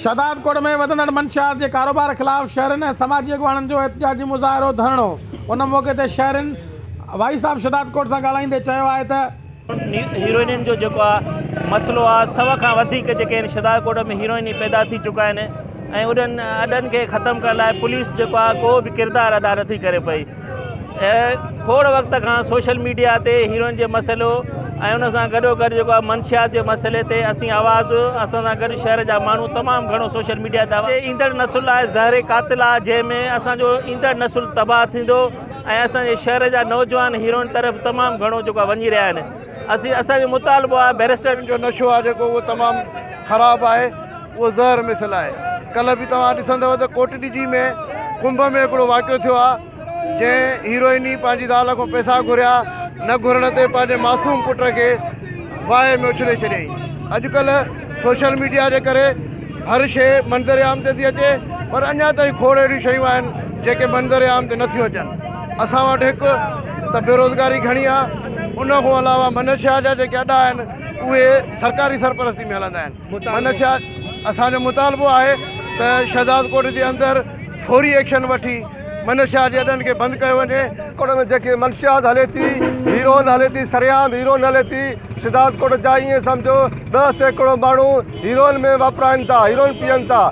شهداد ڪوٽ ۾ وڌندڙ منشيات جي ڪاروبار خلاف شهرين ۽ سماجي اڳواڻن جو احتجاجي مظاهرو ڌرڻو ان موقعي تي شهرين وائي صاحب شهداد ڪوٽ سان ڳالهائيندي چيو آهي ته. هيروئنن جو جيڪو آ مسئلو آ سو کان وڌيڪ جيڪي آهن شهداد ڪوٽ ۾ هيروئني پيدا ٿي چڪا آهن ۽ انهن اڏن کي ختم ڪرڻ لاء پوليس جيڪو آ ڪو به ڪردار ادا نٿي ڪري پئي. کوڙ وقت کان سوشل ميڊيا تي هيروئن جي مسئلو ۽ ان سان گڏو گڏ جيڪو آهي منشيات جي مسئلي تي اسين آواز اسان سان گڏ شهر جا ماڻهو تمام گهڻو سوشل ميڊيا تي ايندڙ نسل لاء زهر قاتل آهي جنهن ۾ اسان جو ايندڙ نسل تباهه ٿيندو ۽ اسان جي شهر جا نوجوان هيروئن طرف تمام گهڻو جيڪو آهي وڃي رهيا آهن اسين اسان جو مطالبو آهي بيرسٽر جو نشو آهي جيڪو اهو تمام خراب آهي اهو زهر مثل آهي. ڪلهه به توهان ڏسندؤ ته ڪوٽڏجي ۾ ڪنڀ ۾ هڪڙو واقعو ٿيو آهي جنهن هيروئني پنهنجي زال کان پئسا گهريا نه گهرڻ تي پنهنجي معصوم پٽ کي باهه ۾ اڇلي ڇڏيائين. اڄڪلهه سوشل ميڊيا جي ڪري هر شيء منظر عام تي ٿي اچي پر اڃا تائين کوڙ اهڙيون شيون آهن جيڪي منظر عام تي نٿيون اچن. اسان وٽ هڪ ته بيروزگاري گهڻي آهي ان کان علاوه منشيا جا جيڪي اڏا آهن اهي سرڪاري سرپرستي ۾ هلندا آهن. منشيات اسان جو مطالبو آهي ته شهدادڪوٽ جي اندر فوري ايڪشن وٺي منشيات جي اڏن کي بند ڪيو وڃي. ڪوٽ ۾ جيڪي منشيات هلي ٿي هيروئن هلي ٿي سرعام هيروئن هلي ٿي شهدادڪوٽ جا ائين سمجهو ڏهه سيڪڙو ماڻهو هيروئن ۾ واپرائن ٿا هيروئن پيئن ٿا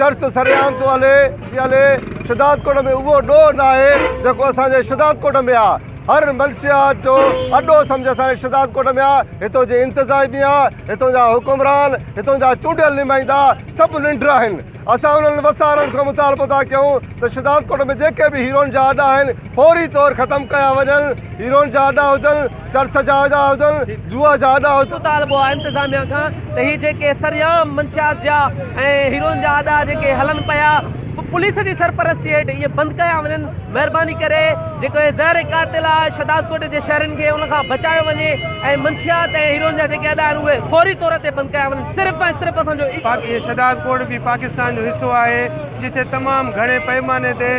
چرس سرعام ٿو هلي ٿي هلي شهدادڪوٽ ۾ اهو ڏوهه ناهي جيڪو اسان جي شهدادڪوٽ ۾ آهي. هر منشيات جو اڏو سمجهه سائين شهداد ڪوٽ ۾ آ، هتو جي انتظاميا، هتو جا حڪمران، هتو جا چونڊيل نمائندا سڀ ننڊر آهن، اسان انهن وسارن کان مطالبو ٿا ڪيون ته شهداد ڪوٽ ۾ جيڪي به هيروئن جا اڏا آهن فوري طور ختم ڪيا وڃن، هيروئن جا اڏا هجن، چرس جا اڏا هجن، جوا جا اڏا هجن. مطالبو آ انتظاميا کان ته هي جيڪي سريعام منشيات جا ۽ هيروئن جا اڏا جيڪي هلن پيا. پوليس جي سرپرستي هيٺ اهي بند ڪيا وڃن مهرباني ڪري جيڪو هي زهر قاتل آ شهداد ڪوٽ جي شهرين کي ان کان بچايو وڃي ۽ منشيات ۽ هيروئن جا جيڪي اڏا آهن اهي فوري طور تي بند ڪيا وڃن صرف ۽ صرف اسان جو باقي شهداد ڪوٽ به پاڪستان جو حصو آهي جتي تمام گهڻي پئماني تي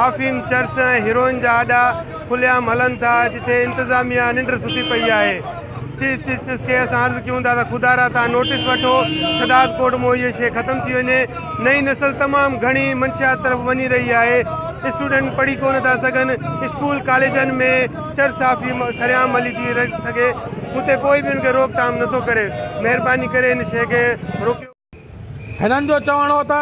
آفيم چرس ۽ هيروئن جا اڏا کليعام هلن ٿا جتي انتظاميا ننڊ ستي پئي آهي. چيف جسٽس کي اسان عرض ڪيون ٿا ته خدا را تان نوٽس وٺو شھداد ڪورٽ مون ھيء شيء ختم ٿي وڃي نئين نسل تمام گھڻي منشيات طرف وڃي رھي آھي اسٽوڊنٽ پڙھي ڪونه ٿا سگھن اسڪول ڪاليجن ۾ چر صحافي سرعام ملي ٿي سگھي اتي ڪوئي به ان کي روڪ ٽام نٿو ڪري مھرباني ڪري ان شيء کي روڪيو هنن جو چوڻ هو ته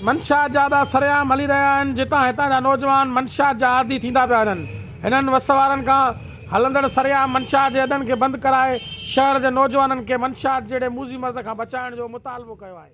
منشيات جا اڏا سرعام هلي رهيا آهن، جتان هتان جا نوجوان منشيات جا عادي ٿيندا پيا وڃن. هنن وس وارن کان هلندڙ سرعام منشيات جي اڏن کي بند ڪرائي شهر جي نوجوانن کي منشيات جهڙي موذي مرض کان بچائڻ جو مطالبو ڪيو آهي.